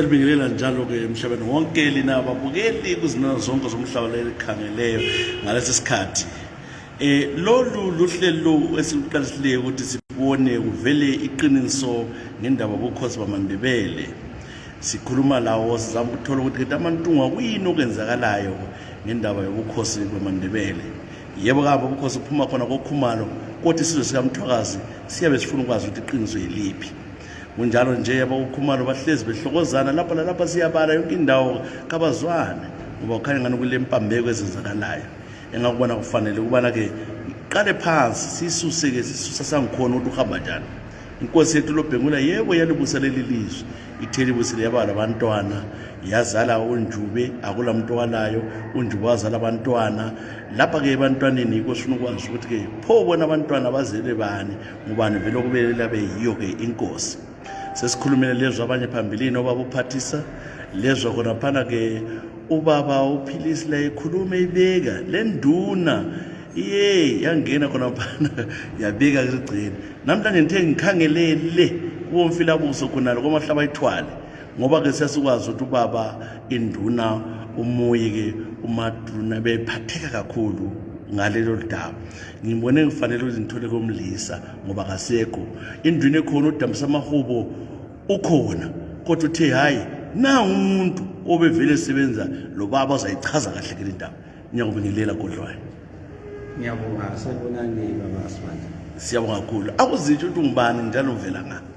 Libingelela njalo ke emhlabeni wonke lina babukeli kuzinana zonke zomhlaba lelikhangeleyo ngalesi sikhathi eh lolu luhlelo esiluqalisile ukuthi sibone kuvele iqiniso ngendaba bokhosi bamandebele sikhuluma lawo sizama ukuthola ukuthi kade amantungwa kuyini okwenzakalayo ngendaba yobukhosi bamandebele yebo kabo ubukhosi buphuma khona kokhumalo kodwa isizwe sikamthwakazi siyabe sifuna ukwazi ukuthi iqiniso yiliphi kunjalo nje abakukhumalo bahlezi behlokozana lapha lalapha siyabala yonke indawo kabazwane ngoba ukhanye ngani kulempambeko ezenzakalayo engakubona kufanele ukubana-ke iqale phansi siyisuse-ke sisusa sangikhona ukuthi uhamba njani inkosi yethu lobhengula yebo yalibusa leli lizwe ithe libusile yaba labantwana yazala unjube akula muntu owalayo unjube wazala abantwana lapha-ke ebantwaneni yikho sifuna ukwazi ukuthi-ke pho bona abantwana bazele bani ngubani vele okubelele abe yiyo-ke inkosi sesikhulumile lezwa abanye phambilini obabuphathisa lezwa khonaphana-ke ubaba uphilisi la ikhuluma ibeka le nduna iye yangena khonaphana yabeka kugcina namhlanje ngithe ngikhangelele kuwomfilabuso khonalo komahlaba ithwale ngoba ke sesikwazi ukuthi ubaba induna umuyi ke umaduna bephatheka kakhulu ngalelo daba ngibone ngifanele ukuthi ngithole komlisa ngoba kasekho indwini ekhona udambisa amahubo ukhona kodwa uthe hhayi nangu umuntu obevele esebenza lo baba ozayichaza kahle ke le ndaba ngiyakubingelela kodlwayo ngiyabonga sanibonani baba asibandla siyabonga kakhulu akuzitsho ukuthi ungubani njalo uvela ngani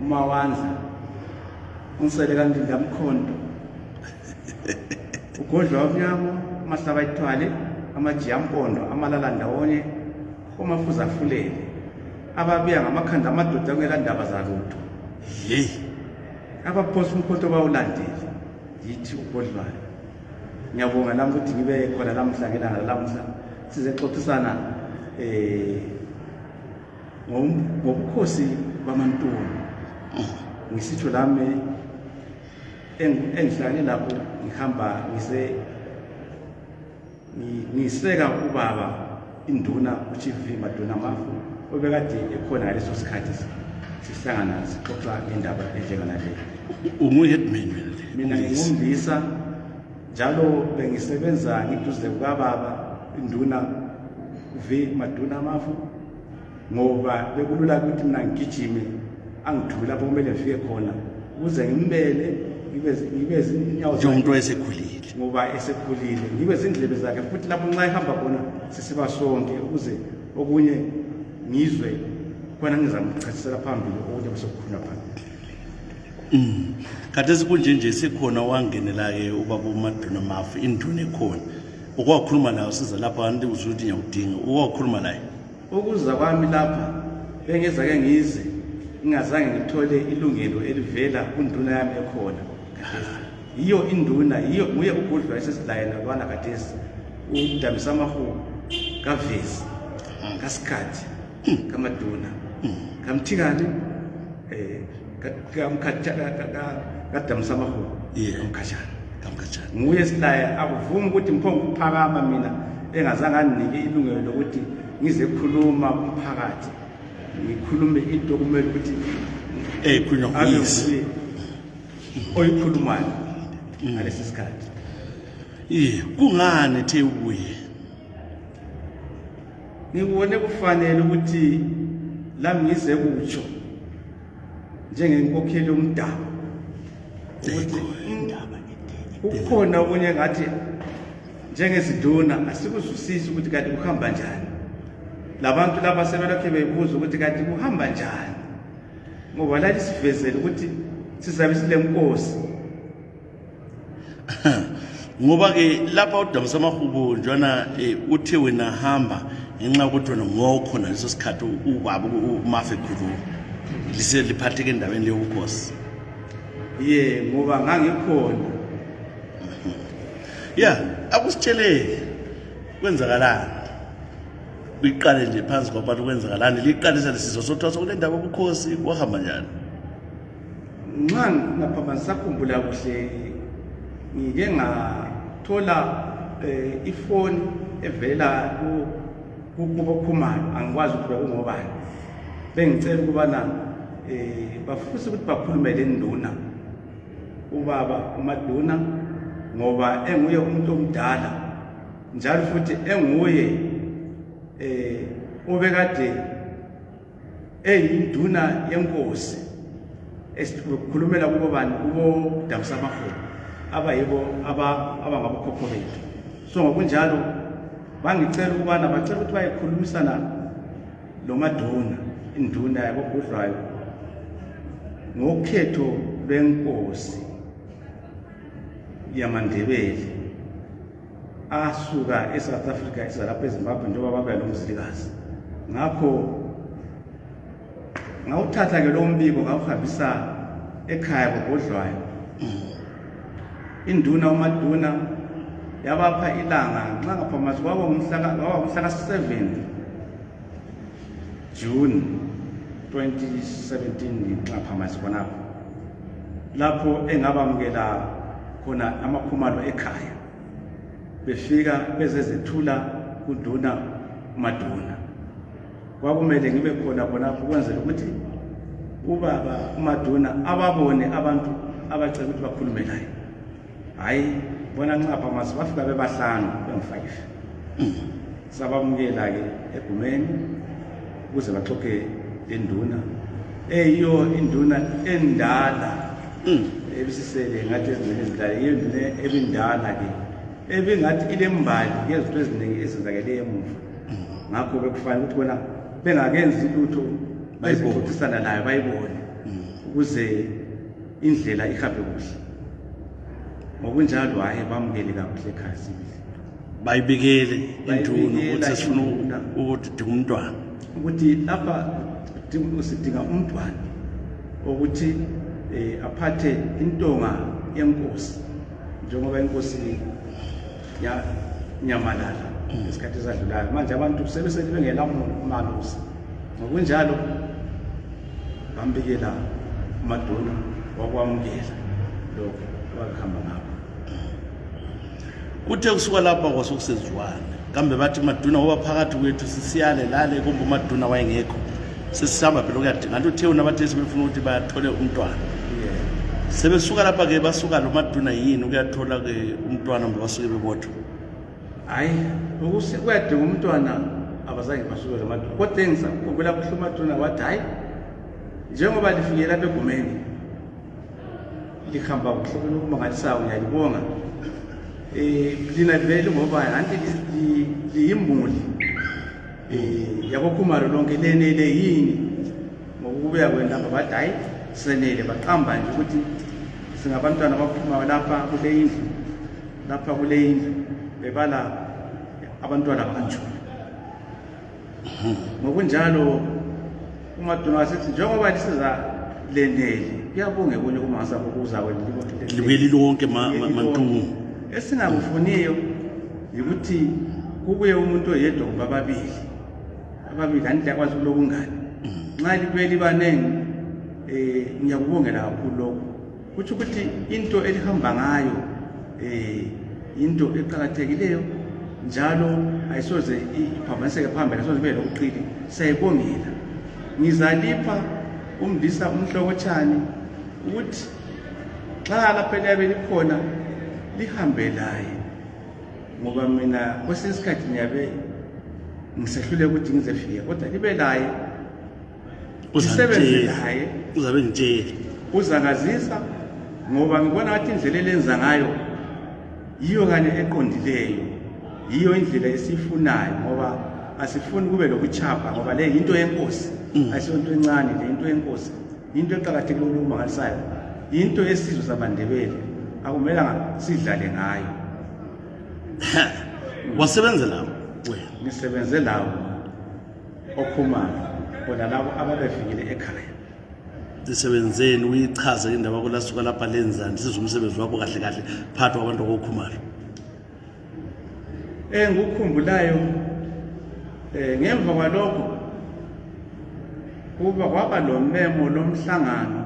umawandla unsele kandinda mkhondo ugodlwa wamnyama amahlaba ithwale amajiyampondo amalala ndawonye omafuza afulele ababiya ngamakhanda amadoda kungela ndaba zalutho ye abaphosa umkhonto bawulandile yithi ugodlwayo ngiyabonga lami ukuthi ngibe khona lamuhla ngelanga lamuhla sizexoxisana um eh, ngobukhosi bamantoni ngisitsho lami engihlale lapho ngihamba ngise ngiseka ubaba induna uchief maduna mafu obekade ekhona ngaleso sikhathi sihlangana sixoxa ngendaba enjenganaleyo ungu-headman mina ngingumlisa njalo bengisebenza ngiduze kukababa induna v maduna amafu ngoba bekulula ukuthi mina ngigijime angithume lapho kumele ngifike khona ukuze ngimbele ngibe zinyawo umuntu esekhulile ngoba esekhulile ngibe zindlebe zakhe futhi lapho nxa ehamba khona sisiba sonke ukuze okunye ngizwe khona ngizamchasisela phambili okunye kusokukhuna phambili Mm. Khathesi kunje nje sekhona owangenela-ke ubaba uMaduna Mafu induna ekhona. Uke wakhuluma naye usiza lapha kanti uzwe ukuthi ngiyakudinga. Uke wakhuluma naye. Ukuza kwami lapha bengezake ngize ngingazange ngithole ilungelo elivela kunduna yami ekhona. Khathesi. Yiyo induna, yiyo nguye uGudlwa esesilaye nalwana khathesi. Udambisa amahubo kavezi kasikhathi. hmm. kama duna hmm. kam tigani eh kam kacha ka damsama ho kam kacha kam kacha nguye silaya akuvumi ukuthi mphongo kuphakama mina engazange anginike ilungelo lokuthi ngizekhuluma umphakathi ngikhulume into kumele ukuthi eh khulunywa nguyise oyikhulumayo mm. ngalesi sikhathi iye kungani ethe ubuye ngibone kufanele ukuthi lami ngize kutsho njengenkokheli yomdabu ukuthi kukhona okunye ngathi njengeziduna asikuzwisisi ukuthi kanti kuhamba njani labantu laba sebelokhe bebuza ukuthi kanti kuhamba njani ngoba lali sivezele ukuthi sizabe silenkosi ngoba-ke lapha udamisa amahubo njwana um eh, uthe wena hamba ngenxa yokuthi wena ngokhona leso sikhathi ubaba umafe khuluma lise liphatheke endaweni leyobukhosi ye ngoba ngangikhona ya akusitsheleke kwenzakalani kuyiqale nje phansi kwabantu kwenzakalani liqalisa lesizo sothwasa kule ndaba ubukhosi kwahamba njani Nxa ngingaphambanisa khumbula kuhle ngike ngathola eh, ifoni evela kubokhumalo angikwazi ukuthi bekungobani bengicela ukubana eh bafuse ukuthi bakhulume le nduna ubaba umaduna ngoba enguye umuntu omdala njalo futhi enguye eh obekade eyinduna yenkosi esikhulumela kubo bani kubo dakusa amaholo abayibo abangabokhokho bethu so ngokunjalo bangicela ukubana bacela ukuthi bayekhulumisana lo maduna induna yakobhudlwayo ngokhetho lwenkosi yamandebele asuka esouth africa eza lapha ezimbabwe njengoba babuya lomzilikazi ngakho ngawuthatha ke lowo mbiko ngawuhambisa ekhaya kobhodlwayo induna umaduna yabapha ilanga nxa ngaphamasi kwaba ngumhlaka 7 June 2017 ngaphamasi khonapho lapho engabamukela khona amakhumalo ekhaya befika bezezethula kunduna umaduna kwakumele ngibe khona khonapho ukwenzela ukuthi ubaba umaduna ababone abantu abacela ukuthi bakhulume laye hayi bona ncapha masi bafika bebahlanu bengu-five sabamukela-ke egumeni ukuze baxoxe lenduna eyiyo induna endala mm. ebisisele ngathi ezinduna ezindala yiyo induna ebindala-ke ebingathi ilembali yezinto eziningi ezenzakele emuva mm. ngakho bekufanele ukuthi bona bengakenzi lutho bayixoxisana nayo bayibone mm. ukuze indlela ihambe kuhle ngokunjalo hhayi bamukele kakuhle ekhaya sibili bayibikele induna ukuthi sifuna ukuthi dinga umntwana ukuthi lapha sidinga umntwana ukuthi um aphathe intonga yenkosi njengoba inkosi yanyamalala mm. esikhathi esadlulayo manje abantu sebesethi bengelamona umalusi ngokunjalo bambikela umaduna wakwamukela lokho abakuhamba ngabo kuthe kusuka lapha kwasokusezwane kambe bathi umaduna waba phakathi kwethu sisiyale lale kumbe umaduna wayengekho sesihamba phela ukuyadinga nto uthe unabathe sebefuna ukuthi bathole umntwana sebesuka lapha-ke basuka lo maduna yini ukuyathola-ke umntwana mbe basuke bebodwa hayi ukuthi kuyadinga umntwana abazange basuke la maduna kodwa engizakukhumbula kuhle umaduna wathi hayi njengoba lifike lapha egumeni lihamba kuhle kulokumangalisayo ngiyalibonga um lina livele ngoba anti liyimuli um eh, yakokhumalo lonke lenele yini ngokubuya kwendaba bathi hayi senele baqamba nje ukuthi singabantwana abaphumayo lapha kule indlu lapha kule indlu bebala abantwana banjula ngokunjalo umaduna wasithi njengoba lisiza leneli kuyabonge kunye kumasa ukuza kwelibeli lonke mantungu esingakufuniyo yikuthi kubuye umuntu oyedwa kumbe ababili ababili andithi akwazi kulobungani mm. nxa libuye libaningi um ngiyakubongela kakhulu lokhu kutsho ukuthi into elihamba ngayo um into eqakathekileyo njalo ayisoze iphambaniseke phambili ayisoze ibe lokuqili siyayibongela ngizalipha umndisa umhlokotshani ukuthi xa lapho eliyabe likhona lihambe laye ngoba mina kwesinye isikhathi ngiyabe ngisehlule ukuthi ngizefika kodwa libe laye ngisebenze laye uzabe ngitshele uzakazisa ngoba ngibona ngathi indlela elenza ngayo yiyo kanye eqondileyo yiyo indlela esiyifunayo ngoba asifuni kube lokuchapha ngoba le yinto yenkosi mm. ayisonto encane le yinto yenkosi yinto eqakathekile ukumangalisayo yinto yesizwe sabandebele akumelanga sidlale ngayo wasebenzela wena ngisebenze lawo okhumana bona labo ababefikile ekhaya isebenzeni uyichaze indaba yakho lasuka lapha lenzani sizwe umsebenzi wakho kahle kahle phakathi kwabantu akokhumalo Eh ngikukhumbulayo eh ngemva kwalokho kuba kwaba lomemo lomhlangano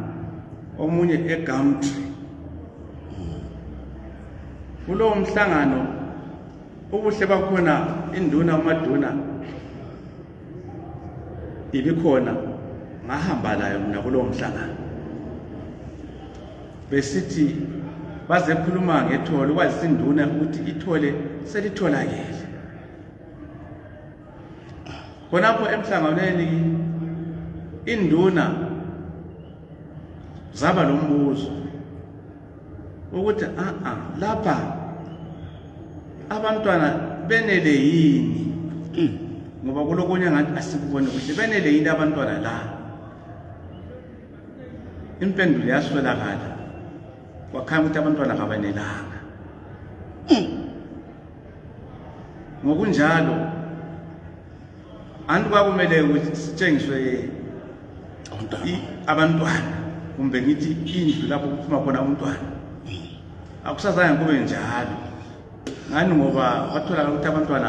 omunye eGumtree kulowo mhlangano ubuhle bakhona induna umaduna ibikhona ngahamba layo mina kulowo mhlangano besithi bazekhuluma ngethole kwazisa induna ukuthi ithole selitholakele khonapho emhlanganweni induna zaba lombuzo ukuthi a ah, a ah, lapha abantwana benele yini hmm. ngoba kulokunye ngathi asikubone kuhle benele yini abantwana la impendulo yaswelakala kwakhanya ukuthi abantwana kabanelanga hmm. ngokunjalo anti kwakumele ukuthi sitshengiswe abantwana kumbe ngithi indlu lapho kuphuma khona umntwana akusazange kube njalo ngani ngoba kwatholakala ukuthi abantwana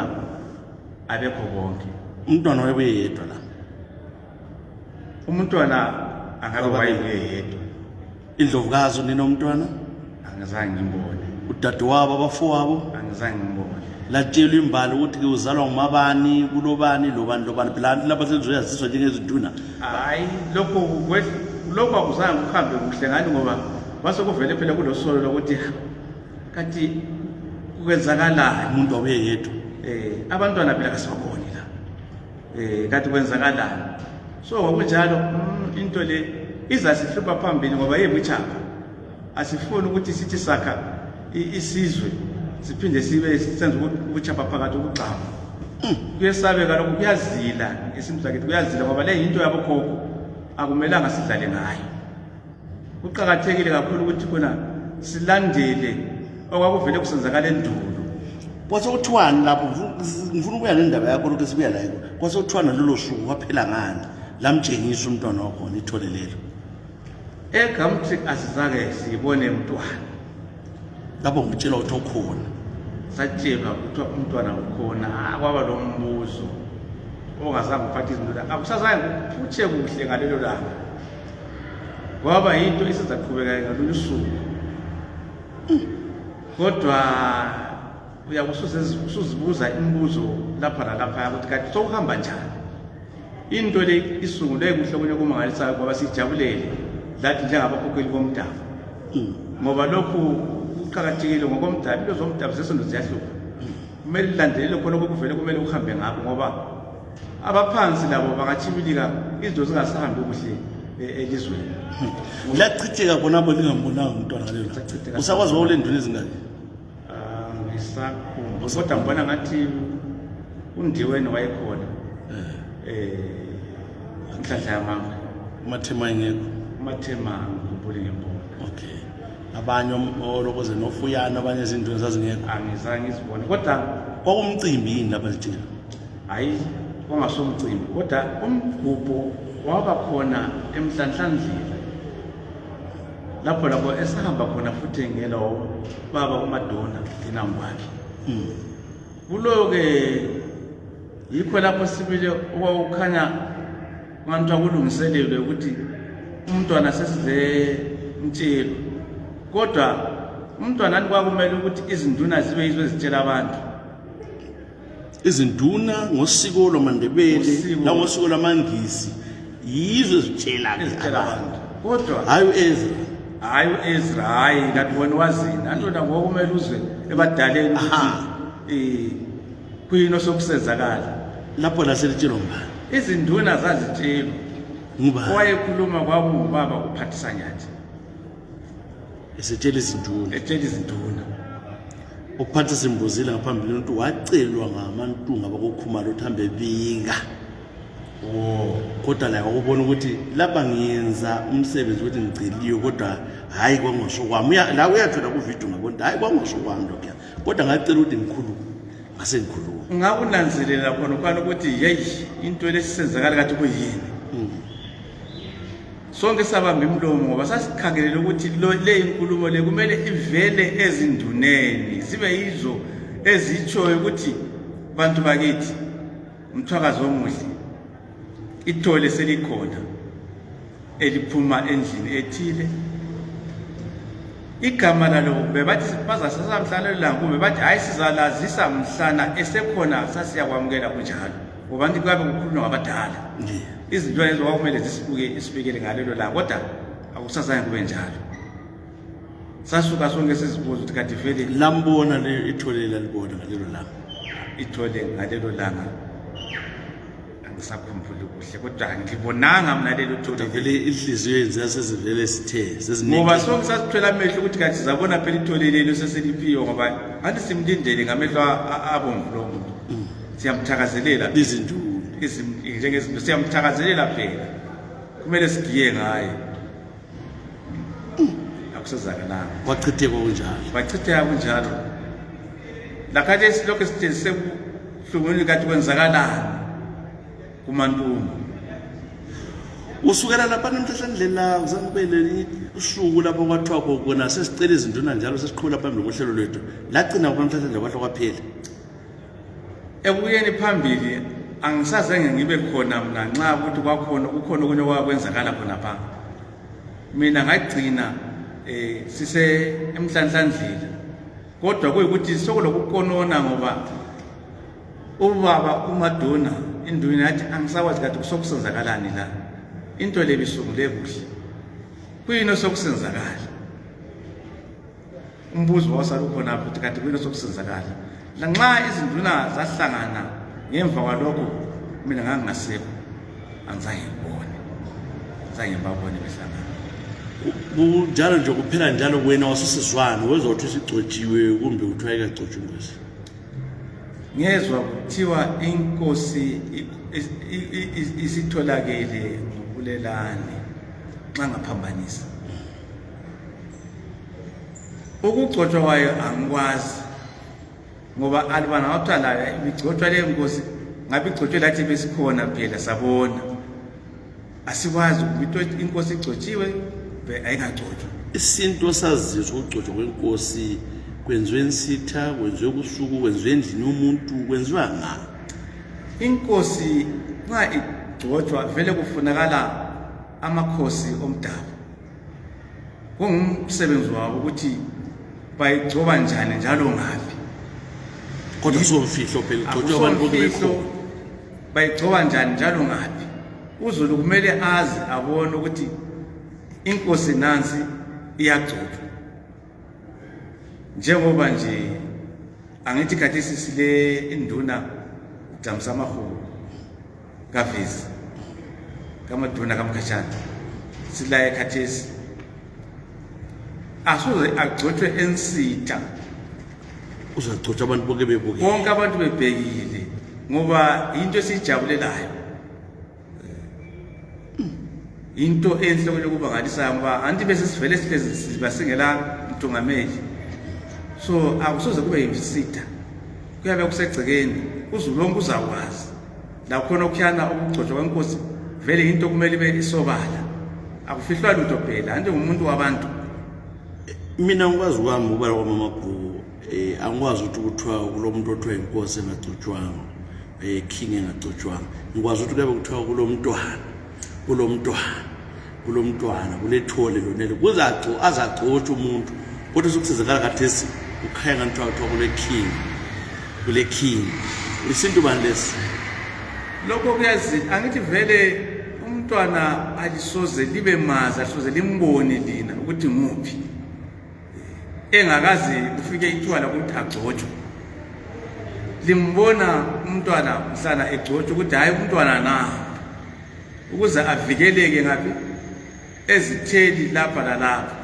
abekho bonke umntwana wayebuye yedwa la umntwana angabe wayebuye yedwa indlovukazi unina umntwana angizange ngimbone udadewabo abafowabo angizange ngimbone latshelwa imbali ukuthi ke uzalwa ngumabani kulobani lobani lobani phela abantu laba selizoyaziswa njengezinduna hayi lokho kwe- lokho akuzange kuhambe kuhle ngani ngoba kwase kuvele phela kulosolo lokuthi kanti kwenzakalani umuntu wabuye yedwa um abantwana phela kasibaboni la eh kathi kwenzakalani so ngokunjalo mm, into le izasihlupha phambili ngoba yebuchapha asifuni ukuthi sithi sakha isizwe siphinde sibe senza ubuchapha phakathi ukugxama hmm. kuyesabeka lokhu kuyazila esimzakithi kuyazila ngoba le yinto yabokhokho akumelanga sidlale ngayo kuqakathekile kakhulu ukuthi khona silandele okwakuvele kusenzakala endulo kwasekuthiwani lapho ngifuna ukuya nendaba yakho lokhu esibuya layo kwasekuthiwana lolo suku kwaphela ngani lamtshengisa umntwana wakhona ithole lelo egamtric asizange sibone mntwana lapho ngitshela ukuthi okhona satshelwa kuthiwa umntwana ukhona kwaba lo mbuzo ongazange uphathe izinto lakhe akusazange kuphutshe kuhle ngalelo langa kwaba yinto esizaqhubeka ngalolu suku kodwa uyabe usuzibuza imibuzo lapha lalaphaya ukuthi kanti sokuhamba njani into le isungulwe kuhle kunye kumangalisayo ngoba sijabulele lathi njengabakhokheli bomdabu hmm. ngoba lokhu kuqakathekile ngokomdabu into zomdabu zesinto ziyahlupha hmm. kumele lilandelele khona okuvele kumele kuhambe ngakho ngoba abaphansi labo bangatshibilika izinto zingasahambi kuhle e, elizweni hmm. liyachitheka bonabo lingambonanga umntwana ngalelo usakwazi wawulendwini ezingaki Ah, ngisakhumba kodwa ngibona ngathi undiweni wayekhona eh inhlanhla yamanga umathema engekho umathema ngibuli ngembona okay abanye olokoze nofuyana abanye izinto zazingekho angizange izibone kodwa kwakumcimbi yini lapha sithina hayi kwangasomcimbi kodwa umgubho waba khona emhlanhlandlela lapho lapho esahamba khona futhi engela ubaba umadona inango wakhe hmm. kuloke yikho lapho sibile okwawukhanya abantu akulungiselelwe ukuthi umntwana sesize mtshelo kodwa umntwana kwakumele ukuthi izinduna zibe yizo ezitshela abantu izinduna ngosiko lwamandebele nangosiko lwamangizi yizo ezitshela abantu kodwa hayi uezra hayi uezra hayi kanti wena wazini andoda ngokumele uzwe ebadaleni ukuthi eh, kuyini osokusenzakala lapho laselitshelwa mbani izinduna zazitshelwa owayekhuluma kwakungubaba uphathisanyathi esetshela izinduna etshela izinduna uphatha simbuzile ngaphambili ukuthi wacelwa ngamantunga bakokhumalo ukuthi hambe bika oh. kodwa laye wakubona ukuthi lapha ngiyenza umsebenzi ukuthi ngiceliwe kodwa hhayi kwangosho kwami la uyathola kuvidiyo ngabona hhayi kwangosho kwami lokhuya kodwa ngacela ukuthi ngikhulume ngase ngikhulume ngakunanzelela khona ukwana ukuthi yeyi into lesisenzakala kathi kuyini hmm. Sonke sabamba imlomo ngoba sasikhangelele ukuthi le inkulumo le kumele ivele ezinduneni zibe yizo ezitshoyo ukuthi bantu bakithi umthwakazi omuhle ithole selikhona eliphuma endlini ethile igama lalo bebathi bazasasa mhlana lelanga kumbe bathi hhayi sizalazisa mhlana esekhona sasiyakwamukela kunjalo Ubantu kuyabe kukhulunywa ngabadala. Izinto lezo kwakumele zisibuke isibekele ngalelo langa kodwa akusazange kube njalo. Sasuka sonke sizibuza ukuthi kade vele lambona le ithole lalibona ngalelo langa. Ithole ngalelo langa ngisakhumbule kuhle kodwa ngibonanga mina lelo thole vele inhliziyo yenze yasezivele sithe seziningi ngoba sonke sasithwela amehlo ukuthi kanti sizabona phela ithole lelo seseliphiwe ngoba anti simlindele ngamehlo abomvu lo muntu mm. siyamthakazelela izinduku njengezinto siyamthakazelela phela kumele sigiye ngaye akusezakananga wachitheka kunjalo wachitheka kunjalo lakhathi esilokhu sitshenzise kuhlungwini kathi kwenzakalani kumantumba usukela lapha nemhlahlendlela uzange ube lelinye usuku lapho kwathiwa kokona sesicela izinduna njalo sesiqhubela phambili kohlelo lwethu lagcina kuba mhlahlendlela kwahle kwaphela Ekubuyeni phambili angisazange ngibe khona mna nxa ukuthi kwakhona kukhona okunye okwakwenzakala khonapha mina ngagcina eh sise emhlanhlandlela kodwa kuyikuthi sokulokukonona ngoba ubaba umadona induna yathi angisakwazi kade kusokusenzakalani la into le bisungule kuhle kuyini osokusenzakala umbuzo wasalukhonapho kanti kuyini sokusizakala lanxa izinduna zahlangana ngemva kwalokho mina ngangingasekho angizange ngibone zange ngibabone behlangana kunjalo nje kuphela njalo wena wasisizwane wezwa ukuthi sigcotshiwe kumbe kuthiwa ikagcotshwa ingozi ngezwa kuthiwa inkosi isitholakele ngobulelane nxa ngaphambanisa ukugcotshwa kwayo angikwazi ngoba alibana ngakuthiwa layo ibigcotshwa leyo nkosi ngabe igcotshwe lathi besikhona phela sabona asikwazi ukuthi inkosi igcotshiwe ayingagcotshwa isintu osazizwa ukugcotshwa kwenkosi kwenziwe nsitha kwenziwe kusuku kwenziwe endlini yomuntu kwenziwa nga inkosi nxa igcotshwa vele kufunakala amakhosi omdabu kungumsebenzi wabo ukuthi bayigcoba njani njalo ngaphi kodwa somfihlo phela igcotshwa abantu bebekho bayigcoba njani njalo ngaphi uzulu kumele azi abone ukuthi inkosi nansi iyagcotshwa njengoba nje angithi khathesi sile induna jamsa mahulu kavezi kamadhona kamkhatshana silaye khathesi asoze agcotshwe ensitha uzagcotshwa abantu bonke bebukile bonke abantu bebhekile ngoba yinto esiyijabulelayo into enhle kwenye ukubangalisayo ngoba anti bese sivele sihlezi siba singela mthungameli so akusoze kube yimsitha kuyabe kusegcekeni uzulu lonke uzakwazi lakhona okuyana ukugcotshwa kwenkosi vele into kumele ibe isobala akufihlwa lutho phela anti ngumuntu wabantu mina ngikwazi kwami ubala kwamamabhuku um eh, angikwazi ukuthi kuthiwa kulo muntu othiwa inkosi engagcotshwanga um king engagcotshwanga ngikwazi ukuthi kuyabe kuthiwa kulo mntwana kulo mntwana kulomntwana kulethole lonelo kuzaco azacotsha umuntu kodwa sokusizakala kathesi kukhaya ngani kuthiwa kuthiwa kule king kule king isintu bani lesi lokho kuyazi angithi vele umntwana alisoze libe mazi alisoze limbone lina ukuthi nguphi engakazi ufike ithiwa lokuthi agcotshwe limbona umntwana mhlana egcotshwa ukuthi hhayi umntwana na ukuze avikeleke ngaphi ezitheli lapha lalapha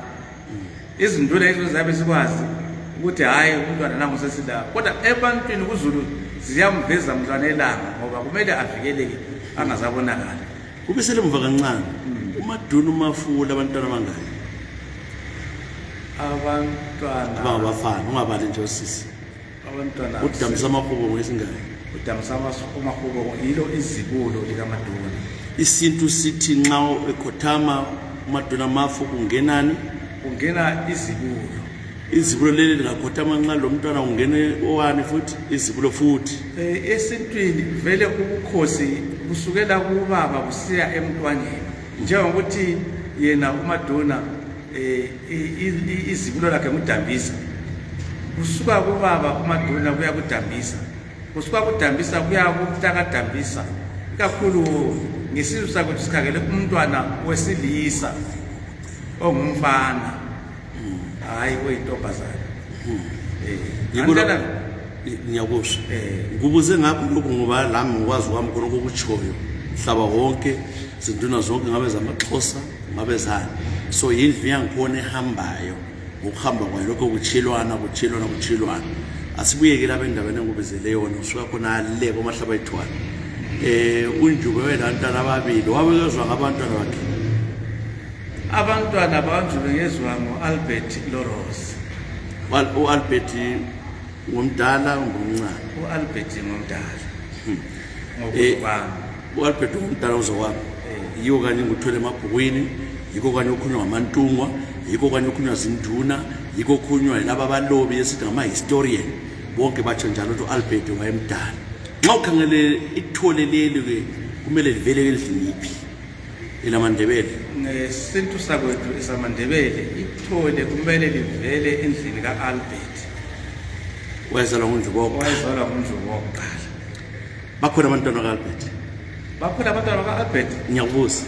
izinduna izo zabe sikwazi ukuthi hhayi umntwana nangu sesilapha kodwa ebantwini kuzulu ziyamveza mntwana elanga ngoba kumele avikeleke angazabonakali kube selemuva kancane umaduna umafula abantwana abangaki abantwana abangabafana ungabali nje osisi abantwana udamisa amahubo ngesingaki udamisa amahubo yilo izibulo likamaduna isintu sithi nxa ekhothama umaduna mafu kungenani kungena izibulo izibulo leli lingakhothama nxa lomntwana ungene owani futhi izibulo futhi eh, esintwini vele ubukhosi kusukela kubaba kusiya emntwaneni njengokuthi yena umadona eh, izibulo lakhe ngudambisa kusuka kubaba umadona kuya kudambisa kusuka kudambisa kuya kutakadambisa ikakhulu ngesizwe sakwethu sikhangele umntwana wesilisa ongumfana Hayi we intombazana. Eh, Yibona Andana- ngiyakusho. Eh. Ngibuze ngakho lokhu ngoba lami ngikwazi kwami khona kokuchoyo. Mhlaba wonke zinduna zonke ngabe zamaxhosa ngabe zani. So yindlu yangikhona ehambayo. Ngokuhamba kwayo lokho kuchilwana kuchilwana kuchilwana. Asibuyeke lapha endaweni engubizele yona usuka khona le komahlaba ethwana. Eh unjube wena ntana ababili wabekezwa ngabantwana bakhe. Abantwana bakanjulu ngezwa ngo-Albert Loros. U-Albert ngomdala ngomncane. U-Albert ngomdala. Hmm. Ngokwami. Eh, U-Albert ngomdala uzokwami. Eh. Yiwo kanye ngikuthwele emabhukwini, yikho kanye okhulunywa ngamantungwa, yikho kanye okhulunywa zinduna, yikho okhulunywa yilaba abalobi esithi ngama-historian. Bonke batsho njalo ukuthi u-Albert wayemdala. Nxa ukhangele ithole leli-ke kumele livele endlini yiphi? ilamandebele ngesintu sakwethu esamandebele ithole kumele livele endlini ka-albert wayezalwa ngundluboqa wayezalwa ngundluboqa kuqala bakhona abantwana ka-albert bakhona abantwana ka-albert ngiyakubuza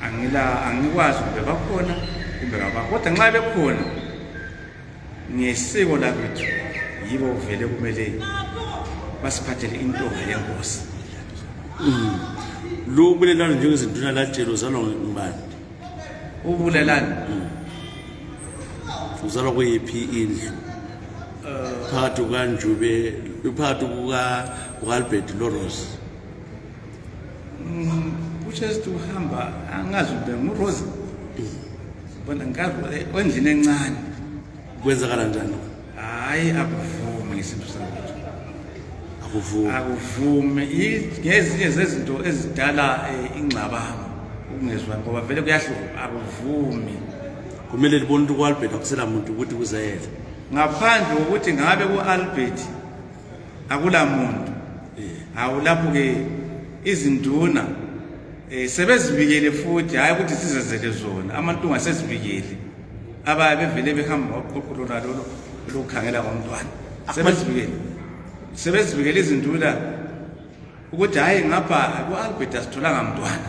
angila angikwazi kumbe bakhona kumbe kabakho kodwa nxa bekhona ngesiko lakwethu yibo vele kumele basiphathele intonga yenkosi mm. lo ubulelani njengezinduna latshelo uzalwa ngubani ubulelani mm. uzalwa kweyiphi indlu phakathi kukanjube phakathi kuka-albert lorose Mm, ushesi uhamba angazi ube ngurosa bona ngikazi endlini encane kwenzakala njani hayi akuvume ngesintu sakwethu akuvume akuvume ngezinye zezinto ezidala eh, ingxabano ukungezwani ngoba vele kuyahluka akuvume kumele libone ukuthi ku-albert akusela muntu ukuthi kuzayela ngaphandle kokuthi ngabe ku-albert akula muntu hawu lapho ke izinduna eh sebezibikele futhi hayi ukuthi sizezele zona amantunga sezibikele abaye bevele behamba ngoqhuqhulo nalolo lokukhangela komntwana sebezibikele sebezibikele izinduna ukuthi hayi ngapha ku-albert asitholanga mntwana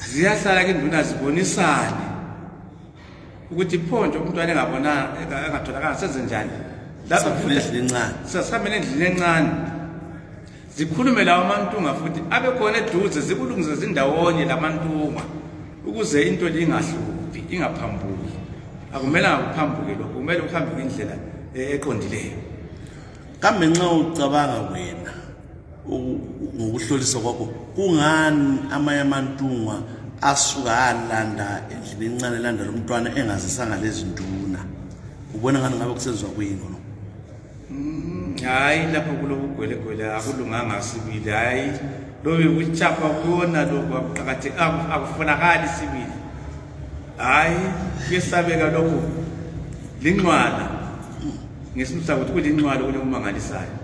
ziyahlala ke induna zibonisane ukuthi pho nje umntwana engabonanga engatholakala senze njani sasihambele endlini encane zikhulume lawo amantunga futhi abe khona eduze zikulungise zindawonye lamantunga ukuze into le ingahluphi ingaphambuki akumelanga kuphambuke lokho kumele kuhambe ngendlela eh, eqondileyo kambe nxa ucabanga wena ngokuhlolisa kwakho kungani amanye amantungwa asuka alanda endlini encane elanda lo mntwana engazisanga lezi nduna ubona ngani ngabe kusenziwa kuyini kono mm, hayi lapho kulokugwelegwele akulunganga sibili hayi lobe kuchapha kuyona lokhu akuqakatheki akufunakali sibili hayi kuyesabeka lokhu linxwala ngesimisa ukuthi kulinxwala kunomangalisayo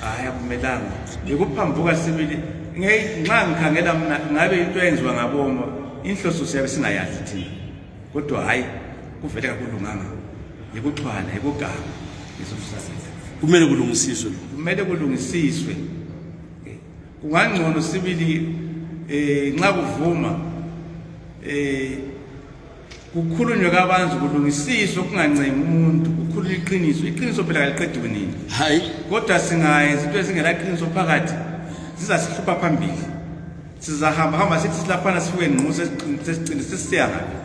hayi akumelanga yikuphambuka sibili nxa ngikhangela mna ngabe into eyenziwa ngaboma inhloso siyabe singayazi thina kodwa hhayi kuvele kakulunganga yikuthwala yikuganga ngesosusasenza kumele kulungisiswe kumele kulungisiswe kungangcono sibili um nxa kuvuma um kukhulunywe kabanzi kulungisiswe ukungancemi umuntu kukhulunywe iqiniso iqiniso phela kaliqedi kunini hayi kodwa singayenza into ezingelaqiniso phakathi zizasihlupha phambili sizahamba hamba sithi silaphana sifuke ngqo sesiqinise sisiya ngaphi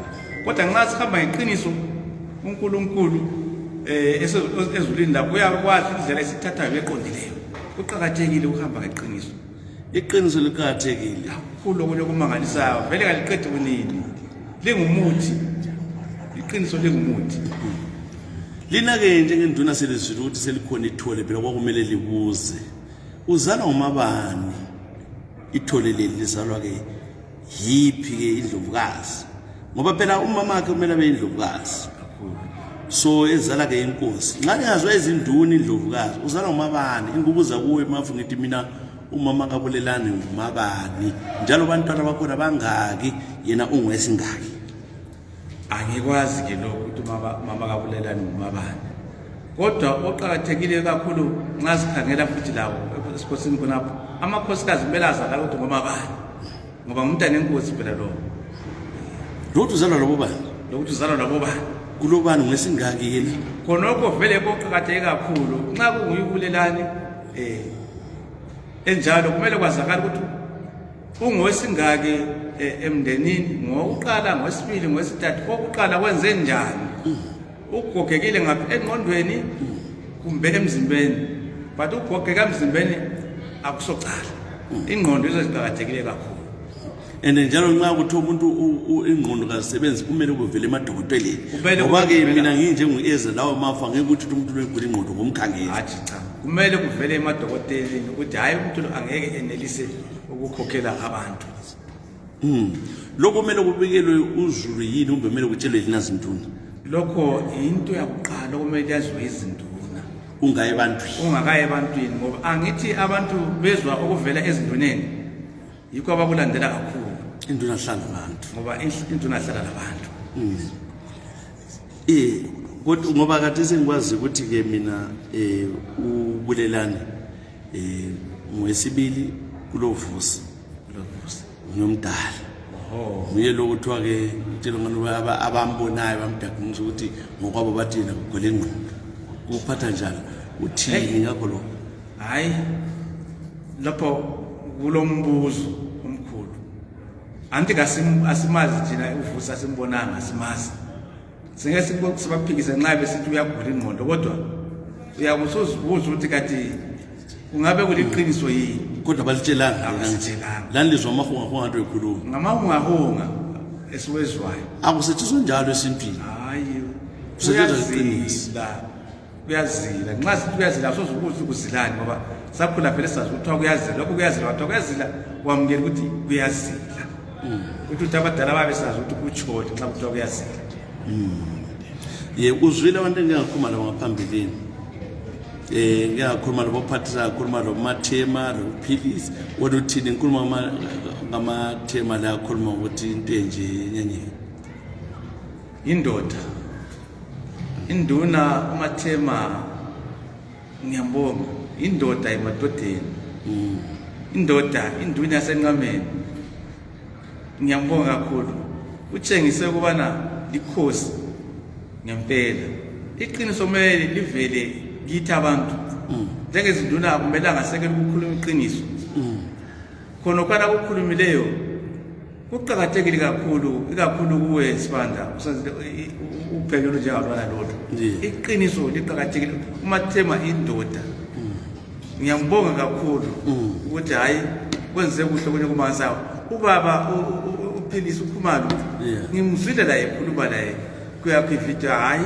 kodwa nxa sihamba ngeqiniso uNkulunkulu eh ezulini lapho uyakwazi indlela esithathayo eqondileyo kuqakathekile ukuhamba ngeqiniso iqiniso liqakathekile kakhulu okunye okumangalisayo vele kaliqedi kunini lingumuthi iqiniso lingumuthi lina-ke njengenduna selizwile ukuthi selikhona ithole phela kwakumele libuze uzalwa ngumabani ithole leli lizalwa-ke yiphi-ke indlovukazi ngoba phela umama wakhe kumele abe indlovukazi so ezala-ke inkosi nxa lingazwa izinduna indlovukazi uzala ngumabani ingubuza kuwe mafu ngithi mina umama kabulelani ngumabani njalo bantwana bakhona bangaki yena ungwesingaki angikwazi ke lokhu ukuthi mama kabulelani ngumabani kodwa oqakathekile kakhulu nxa sikhangela futhi lawo esikhosini khonapho amakhosikazi kumele azalala ukuthi ngomabani ngoba ngumntana enkosi phela lowo lokuthi uzalwa labo bani lokuthi uzalwa labo bani kulobani ngesingaki yini khonokho vele koqakatheke kakhulu nxa kunguyibulelani um eh, enjalo kumele kwazakala ukuthi Ungosingaki eh, emndenini ngokuqala ngosibili ngosithathu kokuqala kwenze njani ugogekile ngapha engqondweni kumbe emzimbeni but ugogeka emzimbeni akusocala ingqondo izo ziqakathekile kakhulu and njalo nxa kuthi umuntu ingqondo kazisebenzi kumele kuvele emadokoteleni ngoba ke mina nginjengu-eze lawo mafa ngeke ukuthi umuntu lwegula ingqondo ngomkhangeli kumele kuvele emadokoteleni ukuthi hhayi umuntu angeke enelise ukukhokhela abantu mm. lokho kumele kubikelwe uzulu yini kumbe kumele kutshelwe yini azinduna lokho yinto yakuqala okumele yaziwe izinduna ungaye ebantwini ungakaye ebantwini ngoba angithi abantu bezwa okuvela ezinduneni yikho abakulandela kakhulu induna hlala abantu ngoba induna hlala labantu mm. eh kodwa ngoba kade sengikwazi ukuthi ke mina eh ubulelani Eh, ngwesibili kulovusi ngiyomdala nguye lo kuthiwa ke ngitshela ngani abambonayo bamdagunisa ukuthi ngokwabo bathi yena kugwele ingqondo kuphatha njalo uthini ngakho lo hayi lapho kulo mbuzo omkhulu anti asimazi thina uvusi asimbonanga asimazi singeke sibaphikise nxa besithi uyagula ingqondo kodwa uyakusozibuza ukuthi kati kungabe kuliqiniso yini kodwa balitshelanga lani lizwa amahungahunga nto ekhuluma ngamahungahunga esiwezwayo akusetshenzwa njalo esintwini hayi kusetshenzwa iqiniso kuyazila nxa sithi kuyazila soze ukuthi kuzilani ngoba sakhula vele sazi kuthiwa kuyazila lokhu kuyazila kwathiwa kuyazila wamukela ukuthi kuyazila hmm. ukuthi ukuthi abadala babesazi ukuthi kutshoni nxa kuthiwa kuyazila hmm. ye uzwile abantu engingakhuluma labo ngaphambilini um eh, ngingakhuluma lobo phathisa ngakhuluma lobo mathema lokuphilisa kodwa uthini ngikhuluma ngamathema la akhuluma ukuthi into enje nyenyeni Indoda induna uMathema ngiyambonga indoda emadodeni mm. indoda induna yasenqameni ngiyambonga kakhulu utshengise ukubana likhosi ngempela iqiniso kumele livele kithi abantu mm. njengezinduna akumelanga sekele ukukhuluma iqiniso mm. khonokwana kukhulumileyo kuqakathekile kakhulu ikakhulu kuwe sibanda uphekelwe njengabana lodwa iqiniso liqakathekile umathema indoda mm. ngiyambonga kakhulu mm. ukuthi hhayi kwenze kuhle kunye kumansawo ubaba uphilisa ukhumalo ngimzwile laye khuluma laye kuyakho ividiyo hhayi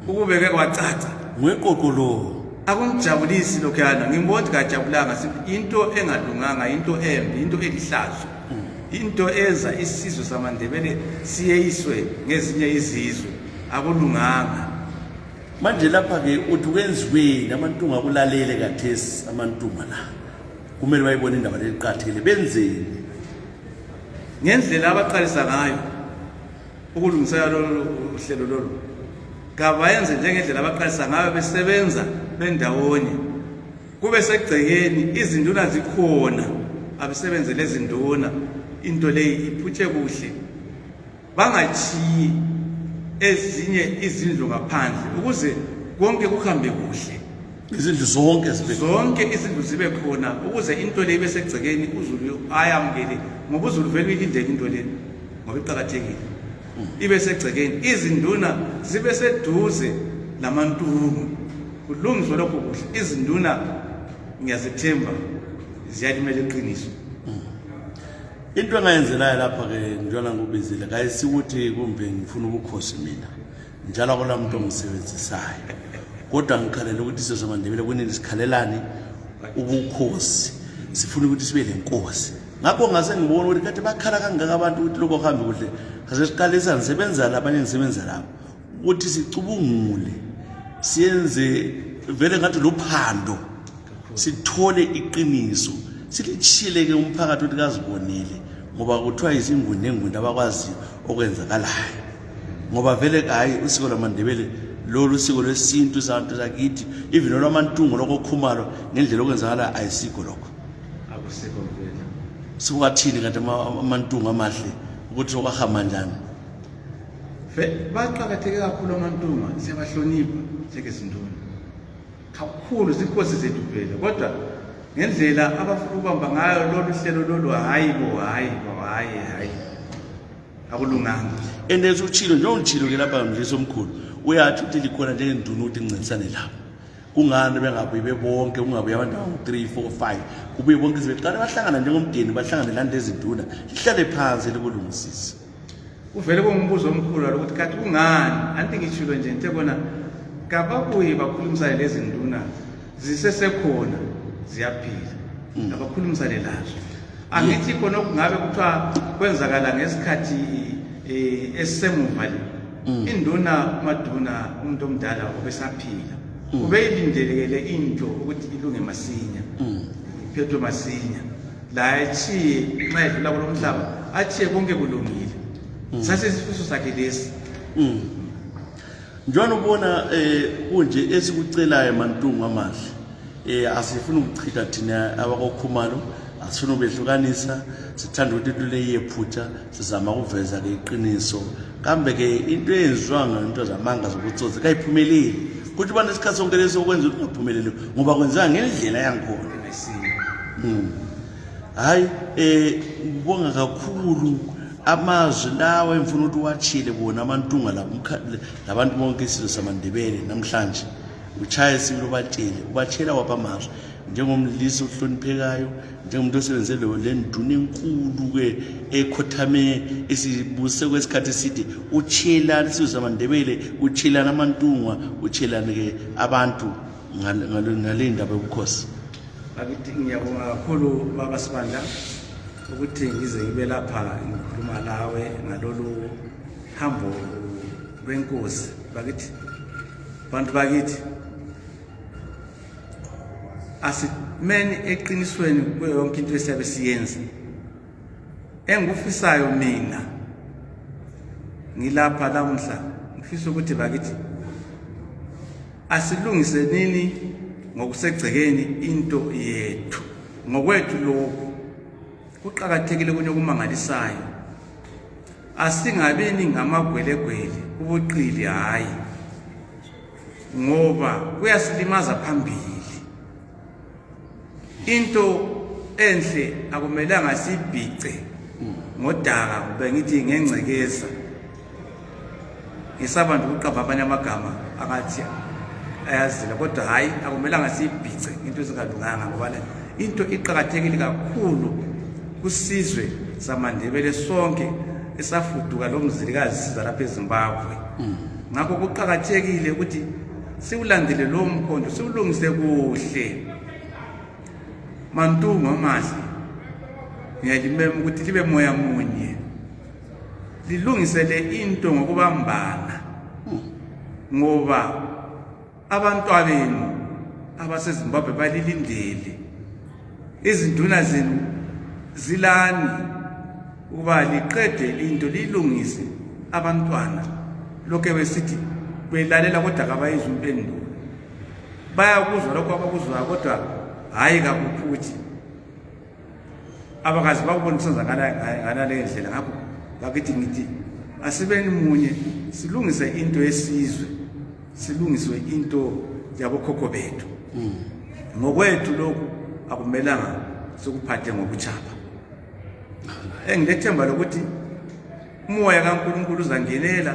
ukubeke kwacaca ngweqoqolowo akumjabulisi lokhuyana ngimbona ukuthi kajabulanga into engalunganga into embi into elihlazo into eza isizwe samandebele siyeyiswe ngezinye izizwe akulunganga manje lapha-ke uthi kwenziweni amantunga akulalele kathesi amantunga la kumele bayibone indaba leliqathekile benzeni ngendlela abaqalisa ngayo ukulungisela lolu hlelo lolu kabayenze njengendlela abaqalisa ngayo besebenza bendawonye kube segcekeni izinduna zikhona abesebenze lezinduna into leyi iphutshe kuhle bangatshiyi ezinye izindlu ngaphandle ukuze konke kuhambe kuhle izindlu zonke zibe zonke izindlu zibe khona ukuze into le ibe segcekeni uzulu ayamukele ngoba uzulu vele uyilindele into leni ngoba iqakathekile ibe segcekeni izinduna zibe seduze lamantungu kulungiswe lokho kuhle izinduna ngiyazithemba ziyalimela iqiniso into engayenzelayo lapha-ke njalo ngikubizile kayisikuthi kumbe ngifuna ubukhosi mina njalo akula muntu ongisebenzisayo kodwa ngikhalela ukuthi sizomandebele kunini sikhalelani ubukhosi sifuna ukuthi sibe lenkosi ngakho ngase ngibona ukuthi kathi bakhala kangaka abantu ukuthi lokho kuhambe kuhle ngase siqalisa ngisebenza la abanye ngisebenza labo ukuthi sicubungule siyenze vele ngathi lophando sithole iqiniso silitshileke umphakathi ukuthi kazibonile ngoba kuthiwa izingundengunde abakwaziyo okwenzakalayo ngoba vele hhayi usiko lwamandebele lolu siko lwesintu sabantu sakithi even olwamantungo lokho okhumalo ngendlela okwenzakala ayisikho lokho akusikho mvela siwathini kanti amantungu amahle ukuthi okwahamba njani baqakatheke kakhulu amantunga siyabahlonipha njengezinduna kakhulu zinkosi zethu phela kodwa ngendlela abafuna ukubamba ngayo lolu hlelo lolu hhayi bo hhayi bo hhayi hhayi akulunganga and as utshilo njengolitshilo ke lapha mdlisa omkhulu uyathi ukuthi likhona njengenduna ukuthi ngincintisane lapho kungani bengabuyi bebonke kungabuyi abantu abangu-three four five kubuye bonke izibeqale bahlangana njengomdeni bahlangane lani lezinduna lihlale phansi likulungisise kuvele kungumbuzo omkhulu walo ukuthi kati kungani anti ngitshilo nje ngithe kona kababuye bakhulumisane lezinduna zisesekhona ziyaphila hmm. abakhulumisane lazo angithi khona okungabe kuthiwa kwenzakala ngesikhathi um esisemuva le mm. induna umaduna umuntu omdala obesaphila mm. ubeyilindelekele into ukuthi ilunge masinya mm. iphethwe masinya la atshiye nxa edlula kulo mhlaba atshiye konke kulungile sasesifiso sakhe lesi njalo ubona eh kunje esikucelayo mantungu amahle eh asifuni ukuchitha thina abakokhumalo asifuna ubehlukanisa sithanda ukuthi into leyephutha sizama ukuveza ke iqiniso kambe ke into eyenziwa ngento zamanga zokutsotsi kayiphumeleli kuthi ubana isikhathi sonke lesi okwenza ukuthi ungaphumeleli ngoba kwenzeka ngendlela yangikhona hhayi um eh, ngibonga kakhulu amazwi lawo engifuna ukuthi uwatshile bona amantunga labantu bonke isizwe samandebele namhlanje utshaye sibili ubatshele ubatshela wapha amazwi njengomlisa ohloniphekayo njengomuntu osebenze le nduna enkulu-ke ekhothame esibuse kwesikhathi eside utshelani isizwe samandebele utshelani amantungwa utshelani-ke abantu ngale ndaba yobukhosi ngiyabonga kakhulu baba sibandla ukuthi ngize ngibe lapha ngikhuluma lawe ngalolu hambo lwenkosi bakithi bantu bakithi asimeni eqinisweni kuyo yonke into esiyabe siyenza engikufisayo mina ngilapha lamuhla ngifisa ukuthi bakithi asilungisenini ngokusegcekeni into yethu ngokwethu lokhu kuqakathekile kunye okumangalisayo asingabini ngamagwelegwele ubuqili hhayi ngoba kuyasilimaza phambili into enhle akumelanga sibhice ngodaka kumbe ngithi ngengcekeza ngisaba nje ukuqamba abanye amagama akathi ayazila kodwa hhayi akumelanga siyibhice into ezingalunganga ngoba into iqakathekile kakhulu kusizwe samandebele sonke esafuduka lo mzilikazi siza lapha ezimbabwe mm. ngakho kuqakathekile ukuthi siwulandile lowo mkhondo siwulungise kuhle mantungu amahle ngiyalimema ukuthi libe moya munye lilungisele into ngokubambana ngoba abantwabenu abasezimbabwe balilindele izinduna zenu zilani ukuba liqede into liyilungise abantwana lokhu ebesithi belalela kodwa kabayizwa impendulo bayakuzwa lokho abakuzwayo kodwa hhayi kakuphuthi abakazi bakubona kusenzakalayo ngalaleyo ndlela ngakho bakithi ngithi asibeni munye silungise into yesizwe silungiswe into yabokhokho bethu hmm. ngokwethu lokhu akumelanga sikuphathe ngokuchapha engilethemba lokuthi umoya kaNkulunkulu uzangenela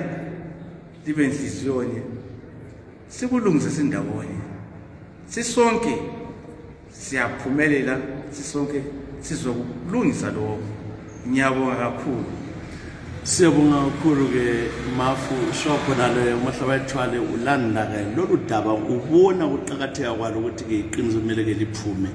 libe nhliziyonye sikulungise sindawonye sisonke siyaphumelela sisonke sizokulungisa lokho ngiyabonga kakhulu siyabonga kakhulu-ke mafu sho khonale umahla bayithwale ulanda-ke lolu daba ubona ukuqakatheka kwalo ukuthi-ke iqiniso kumele-ke liphume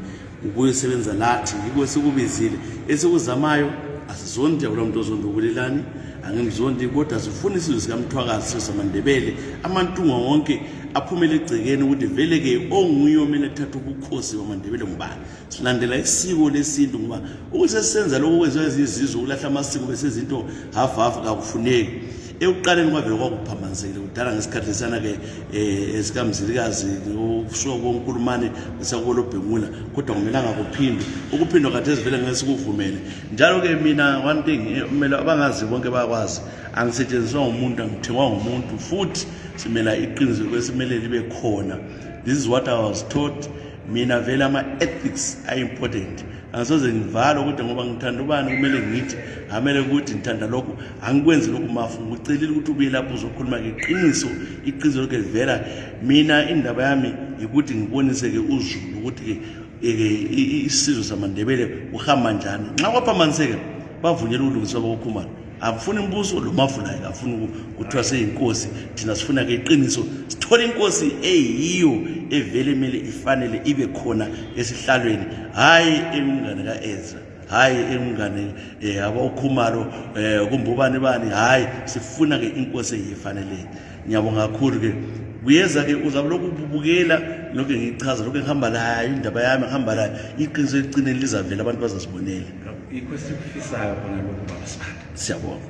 ukuyosebenza lathi yikho esikubizile esikuzamayo asizondi akula muntu ozondi ubulelani angimzondi kodwa sifuna isizwe sikamthwakazi sesamandebele amantunga wonke aphumele egcekeni ukuthi vele-ke onguye omele kuthatha ubukhosi bamandebele ngubani silandela isiko lesintu ngoba ukuthi sesisenza lokho kwenziwa ezizizwe ukulahla amasiko besezinto hafu hafu kakufuneki ekuqaleni kwavele kwakuphambanzile kudala ngesikhathi lesiyana-ke um eh, esikamzilikazi usuka konkulumane isakolobhemula kodwa kumelanga kuphindwe ukuphindwa kathi ezivele ngeke sikuvumele njalo-ke mina one thing eh, kumele abangazi bonke bayakwazi angisetshenziswa ngumuntu angithengwa ngumuntu futhi simela iqiniso kwesimele libe khona this is what i was taught mina vele ama-ethics are important angisoze ngivalo ukuthi ngoba ngithanda ubani kumele ngithi amele ukuthi ngithanda lokhu angikwenzi lokhu mafu ngicelile ukuthi ubuye lapho uzokhuluma ngeqiniso iqiniso lokhu livela mina indaba yami yikuthi ngibonise-ke uzulu ukuthi-ke isizwe samandebele uhamba njani nxa kwaphamaniseke bavunyela ukulungiswa kwakokhumalo akufuni umbuso lo mavunayo akafuni kuthiwa seyinkosi thina sifuna ke iqiniso sithole inkosi eyiyo evele kumele ifanele ibe khona esihlalweni hhayi engumngane ka-ezra hhayi engumngane um eh, abawukhumalo um eh, kumbubani bani hhayi sifuna-ke inkosi eyifaneleni ngiyabonga kakhulu ke kuyeza ke uzabe lokhu ububukela lokhu ngichaza lokhu ngihamba layo indaba yami ngihamba layo iqiniso elicineni lizavela abantu bazazibonela yikho esikufisayo khona lokhu baba sibanda siyabonga